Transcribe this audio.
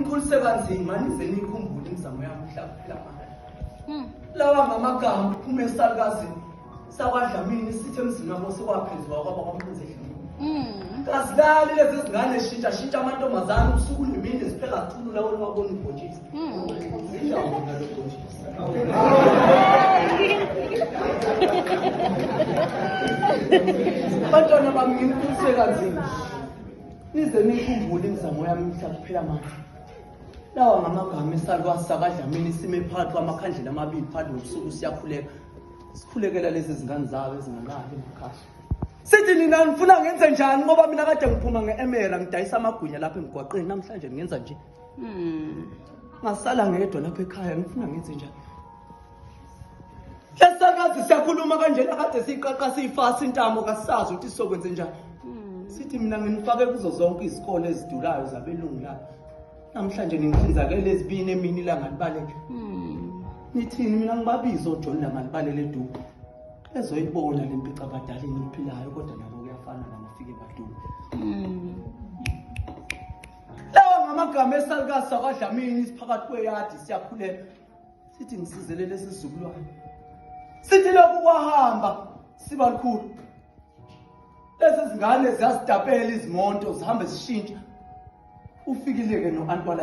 Ngikhulise kanzima nize nikhumbule imizamo yami mhla kuphela manje. Hmm. Lawa ngamagama kuphume esalukazini sakwadlamini sithi emzini wabo sekwaphenziwa kwaba kwampunzi edlini. Hmm. Kazilali lezi zingane shintsha shintsha amantombazane ubusuku nemini ziphela kakhulu lawo lwabona ubhontshisi. Hmm. Indawo nalo bhontshisi. Abantwana bami ngikhulise kanzima. Nize nikhumbule imizamo yami mhla kuphela manje. Lawa ngamagama esalwa sakadlamini isime phakathi kwamakhandlela amabili phakathi nobusuku siyakhuleka. Sikhulekela lezi zingane zabo ezingalali emakhaya. Sithi nina nifuna ngenze njani ngoba mina kade ngiphuma nge-emera ngidayisa amagwinya lapha emgwaqeni namhlanje ngenza nje. Hmm. Ngasala ngedwa lapha ekhaya ngifuna ngenze njani? Lesakazi siyakhuluma kanjena kade siqaqa siyifasa intamo kasazi ukuthi sizokwenze njani. Hmm. Sithi mina nginifake kuzo zonke izikole ezidulayo zabelungu la. Namhlanje ningihlinzakele ezibini emini la ngalibaleke. Hmm. Nithini mina ngibabizo John la ngalibalele eduku. Ezoyibona lempica abadala eniphilayo kodwa nabo kuyafana ngamafike baduku. Hmm. Lawa ngamagama esalukasa kwadlamini isiphakathi kweyadi siyakhuleka. sithi ngisizele lesi sizukulwane sithi lokhu kwahamba siba lukhulu lezi zingane ziyazitapela izimonto zihambe zishintsha ufikileke no-antwala